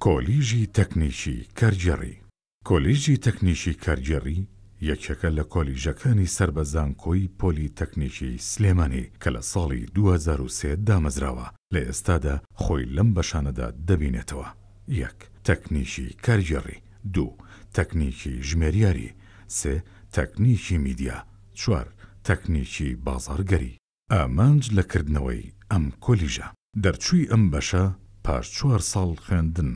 کۆلیژی تەکنیکی کەرگێڕی کۆلیژی تەکنیکی کەرگێڕی یەکێکە لە کۆلیژەکانی سەر بە زانکۆی پۆلی تەکنیکی سلێمانی کە لە ساڵی 2023 دامەزراوە لە ئێستادا خۆی لەم بەشانەدا دەبینێتەوە یەک، تەکنیکی کارگێڕی، دوو، تەکنیکی ژمێریاری، سێ، تەکنیکی میدیا، چوار، تەکنیکی بازاڕگەری. ئامانج لە کردنەوەی ئەم کۆلیژە. دەرچووی ئەم بەشە پاش چوار ساڵ خوێندن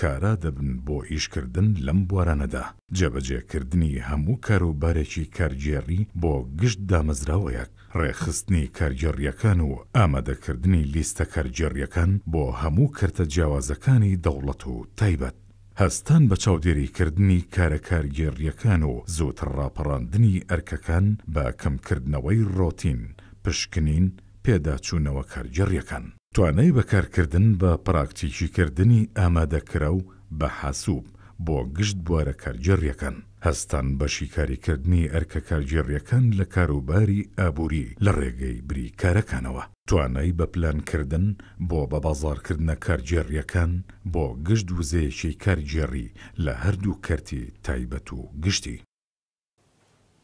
کارا دەبن بۆ ئیشکردن لەم بوارانەدا. جێبەجێکردنی هەموو کاروبارێکی کارگێڕی بۆ گشت دامەزراوەیەک ڕێکخستنی کارگێڕییەکان و ئامادەکردنی لیستە کارگێڕییەکان بۆ هەموو کەرتە جیاوازەکانی دەوڵەت و تایبەت. هەستان بە چاودێریکردنی کارە کارگێڕییەکان و زووتر ڕاپەڕاندنی ئەرکەکان بە کەمکردنەوەی ڕۆتین، پشکنین، پێداچوونەوە کارگێڕییەکان. توانای بەکارکردن بە پراکتیکیکردنی ئامادەکراو بە حاسوب بۆ گشت بوارە کارگێڕییەکان، هەستان بە شیکاریکردنی ئەرکە کارگێڕییەکان لە کاروباری ئابووری لە ڕێگەی بریکارەکانەوە، توانای بە پلانکردن بۆ بە بازاڕکردنە کارگێڕییەکان بۆ گشت وزەیەکی کارگێڕی لە هەردوو کەرتی تایبەت و گشتی.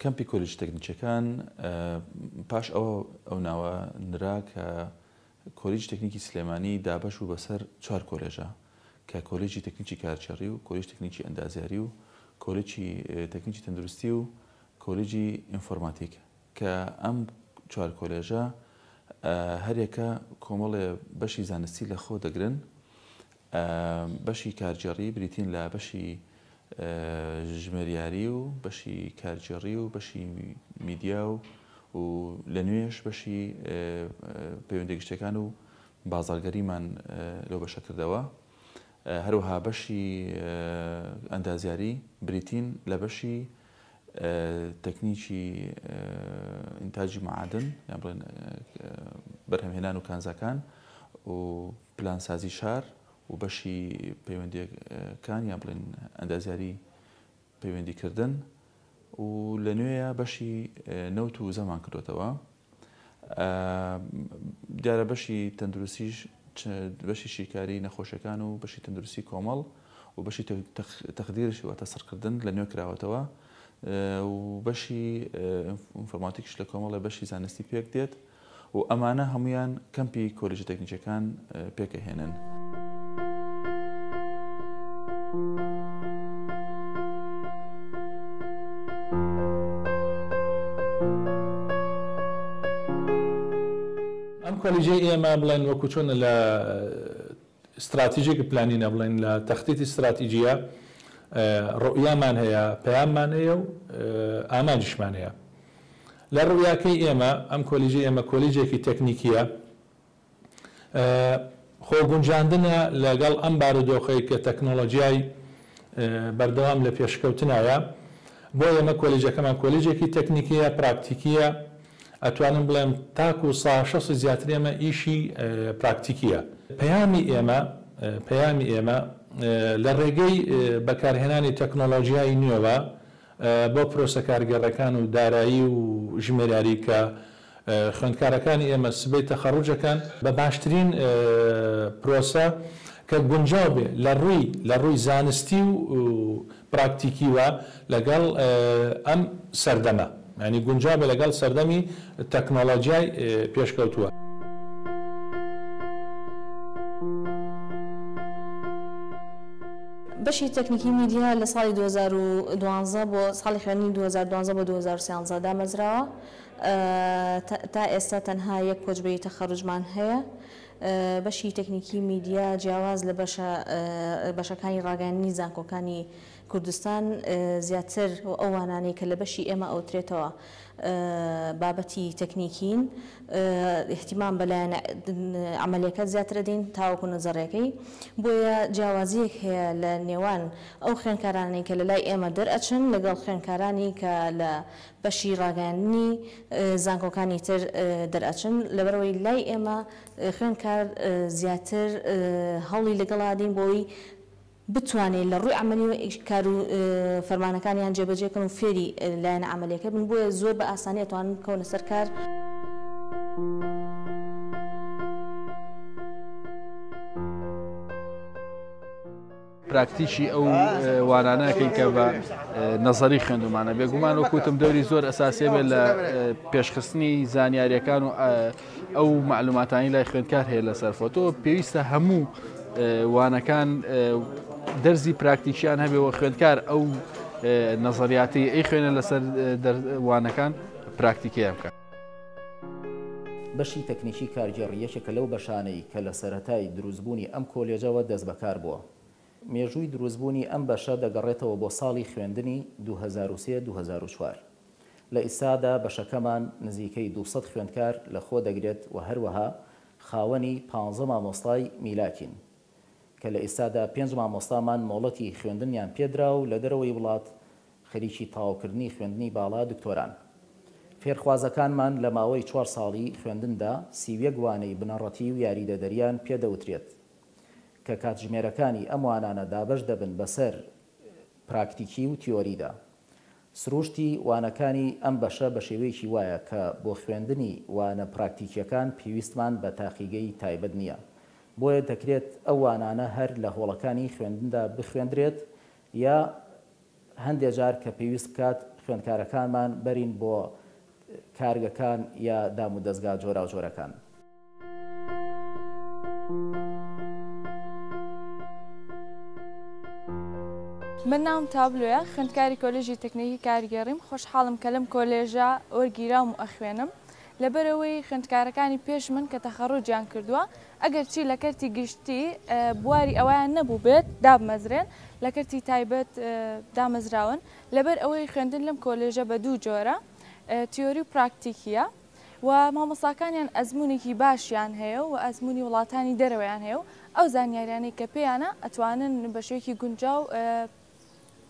کەمپی کۆلیژ تەکنیکیەکان پاش ئەوە ئەو ناوە نرا کە کۆلیژ تەکنیکی سلێمانی دابەش بوو بەسەر چوار کۆلێژە کە کۆلێژی تەکنیکی کارچێڕی و کۆلیژ تەکنیکی ئەندازیاری و کۆلێکی تەکنیکی تەندروستی و کۆلێجی ئینفۆرماتیک کە ئەم چوار کۆلێژە هەرێکە کۆمەڵێ بەشی زانستی لە خۆ دەگرن بەشی کارگێڕی بریتین لە بەشی ژمێریاری و بەشی کارگێڕی و بەشی میدیا و و لە نوێش بەشی پەیوەندی گشتەکان و بازارگەریمان لەو بەشە کردەوە هەروها بەشی ئەندازیاری بریتین لە بەشی تەکنیکی ئینتاجی معادن یان بڵێن بەرهەمهێنان و کانزاکان و پلانسازی شار و بەشی پەیوەندییەکان یان بڵێین ئەندازیاری پەیوەندیکردن و لە نوێیە بەشی نەوت و وزەمان کردوێتەوە دیارە بەشی تەندروستیش بەشی شیکاری نەخۆشەکان و بەشی تەندروستی کۆمەڵ و بەشی تەخدیرش واتە سڕکردن لە نوێ کراوەتەوە و بەشی ئینفۆرماتیکش لە کۆمەڵی بەشی زانستی پێک دێت و ئەمانە هەموویان کەمپی کۆلیژە تەکنیکەکان پێکەهێنن. ئەم کۆلیژەی ئێمە بڵێن وەکو چۆن لە ستراتیژێکی پلانی نە بڵێن لە تەختیتی ستراتیجیە ڕوئیامان هەیە پەیاممان هەیە و ئامانجیشمان هەیە لە ڕوئیاکەی ئێمە ئەم کۆلیژی ئێمە کۆلیجێکی تەکنیکیە خۆگونجاندنە لەگەڵ ئەم بارودۆخەی کە تەکنۆلۆژیای بەردەوام لە پێشکەوتنایە بۆ ئێمە کۆلیجەکەمان کۆلیجێکی تەکنیکیە پراکتیکیە ئەتوانم بڵێم تاکو سا شەست زیاتر ئێمە ئیشی پراکتیکیە. پەیامی ئێمە پەیامی ئێمە لە ڕێگەی بەکارهێنانی تەکنۆڵۆجیای نوێوە بۆ پرۆسە کارگێڕەکان و دارایی و ژمێریاری کە خوێندکارەکانی ئێمە سبەی تەخەڕوج ئەکەن، بە باشترین پرۆسە کە گونجاو بێ لە ڕووی لە ڕووی زانستی و پراکتیکیوە. لەگەڵ ئەم سەردەمە، یانی گونجا بێت لەگەڵ سەردەمی تەکنۆڵۆجیای پێشکەوتووە. بەشی تەکنیکی میدیا لە ساڵی دوو هەزار و دوازدە بۆ ساڵی خوێندنی دوو هەزار و دوازدە بۆ دوو هەزار و سیانزە دامەزراوە، تا ئێستا تەنها یەک کۆچبەری تەخەروجمان هەیە. بەشی تەکنیکی میدیا جیاواز لە بەشە بەشەکانی ڕاگەیاندنی زانکۆکانی کوردستان زیاتر و ئەو وانانەی کە لە بەشی ئێمە ئەوترێتەوە بابەتی تەکنیکیین ئیهتیمام بە لایەنە عەمەلیەکە زیاتر ئەدەین تاوەکو نەزەڕیەکەی بۆیە جیاوازیەک هەیە لە نێوان ئەو خوێندکارانەی کە لە لای ئێمە دەرئەچن لەگەڵ خوێندکارانی کە لە بەشی ڕاگەیاندنی زانکۆکانی تر دەرئەچن لەبەرئەوەی لای ئێمە خوێندکار زیاتر هەوڵی لەگەڵ ئەدەین بۆ ئەوی بتوانێت لە ڕووی عەمەلیەوە ئیش کار و فەرمانەکانیان جێ بەجێ بکەن و فێری لایەنە عەمەلیەکە بن بۆیە زۆر بە ئاسانی ئەتوانن بکەونە سەر کار. پراکتیکی ئەو وانانەکەی کە بە نەزەری خوێندومانە بێگومان وەکوتم دەوری زۆر ئەساسێ بێت لە پێشخستنی زانیاریەکان و ئەو معلوماتانی لای خوێندکار هەیە لەسەر فۆتۆ پێویستە هەموو وانەکان دەرزی پراکتیکیان هەبێ و خوێندکار ئەو نەزریاتی ئەی خوێنە لەسەر وانەکان پراکتیکەیە بکە. بەشی تەکنیکی کارگێڕی یەکێکە لەو بەشانەی کە لە سەرەتای دروستبوونی ئەم کۆلێجەوە دەست بەکار بووە. مێژووی دروستبوونی ئەم بەشە دەگەڕێتەوە بۆ ساڵی خوێندنی دوو هەزار و سێ دوو هەزار و چوار. لە ئیستادا بەشەکەمان نزیکەی دوو سەد خوێندکار لە خۆ دەگرێت و هەروەها خاوەنی پانزە مامۆستای میلاکین کە لە ئیستادا پێنج مامۆستامان مۆڵەتی خوێندنیان پێدرا و لە دەرەوەی وڵات خەریکی تەواوکردنی خوێندنی باڵا دکتۆران. فێرخوازەکانمان لە ماوەی چوار ساڵی خوێندندا سی و یەک وانەی بنەڕەتی و یاریدەدەریان پێ دەوترێت کە کاتژمێرەکانی ئەم وانانە دابەش دەبن بەسەر پراکتیکی و تیۆریدا سروشتی وانەکانی ئەم بەشە بە شێوەیەکی وایە کە بۆ خوێندنی وانە پراکتیکییەکان پێویستمان بە تاقیگەی تایبەت نییە. بۆیە دەکرێت ئەو وانانە هەر لە هۆڵەکانی خوێندندا بخوێندرێت یا هەندێ جار کە پێویست بکات خوێندکارەکانمان بەرین بۆ کارگەکان یا دامودەزگا جۆراوجۆرەکان. من ناوم تابلۆیە، خوێندکاری کۆلێژی تەکنیکی کارگێڕیم، خۆشحاڵم کە لەم کۆلێژە وەرگیراوم و ئەخوێنم، لەبەرئەوەی خوێندکارەکانی پێش من کە تەخەڕوجیان کردووە ئەگەرچی لە کەرتی گشتی بواری ئەوەیان نەبووبێت دابمەزرێن، لە کەرتی تایبەت دامەزراون، لەبەر ئەوەی خوێندن لەم کۆلێژە بە دوو جۆرە، تیۆری و پراکتیکییە و مامۆستاکانیان ئەزموونێکی باشیان هەیە و ئەزموونی وڵاتانی دەرەوەیان هەیە و ئەو زانیاریانەی کە پێیانە ئەتوانن بە شێوەیەکی گونجاو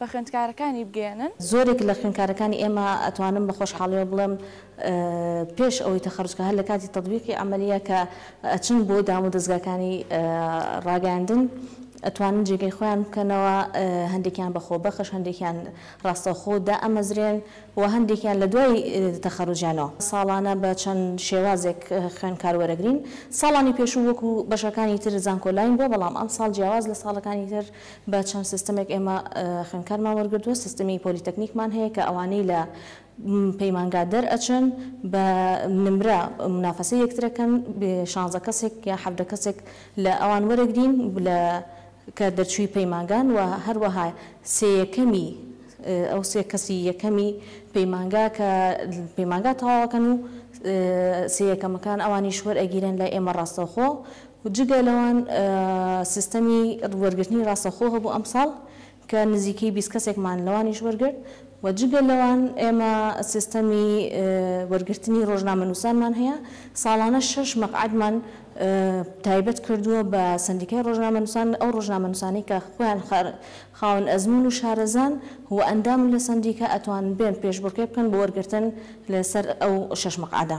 بە خوێندکارەکانی بگەیەنن. زۆرێک لە خوێندکارەکانی ئێمە ئەتوانم بە خۆشحاڵییەوە بڵێم پێش ئەوەی تەخەڕوج کە هەر لە کاتی تەتبیقی عەمەلیە کە ئەچن بۆ دام و دەزگاکانی ڕاگەیاندن ئەتوانن جێگەی خۆیان بکەنەوە هەندێکیان بە خۆبەخش هەندێکیان ڕاستەوخۆ دائەمەزرێن و هەندێکیان لە دوای تەخەڕوجیانەوە ساڵانە بە چەند شێوازێک خوێندکار وەرەگرین ساڵانی پێشوو وەکو بەشەکانی تر زانکۆلاین بووە بەڵام ئەمساڵ جیاواز لە ساڵەکانی تر بە چەند سیستەمێک ئێمە خوێندکارمان وەرگردووە سیستەمی پۆلیتەکنیکمان هەیە کە ئەوانەی لە پەیمانگا دەر ئەچن بە نمرە منافەسەی یەکترە کەن شانزە کەسێک یا حەڤدە کەسێک لە ئەوان وەرەگرین لە کە دەرچووی پەیمانگان وە هەروەها سێ یەکەمی ئەو سێ کەسی یەکەمی پەیمانگا کە پەیمانگا تەواو ئەکەن و سێ یەکەمەکان ئەوانیش وەر ئەگیرێن لای ئێمە ڕاستەوخۆ جگە لەوان سیستەمی وەرگرتنی ڕاستەخۆ هەبوو ئەمساڵ کە نزیکەی بیست کەسێکمان لەوانیش وەرگرت و جگە لەوان ئێمە سیستەمی وەرگرتنی ڕۆژنامەنووسانمان هەیە، ساڵانە شەش مەقعەدمان تایبەت کردووە بە سەندیکای ڕۆژنامەنووسان، ئەو ڕۆژنامەنووسانەی کە خۆیان خاوەن ئەزموون و شارەزان و ئەندامن لە سەندیکا ئەتوانن بێن پێشبڕکێ بکەن بۆ وەرگرتن لەسەر ئەو شەش مەقعەدە.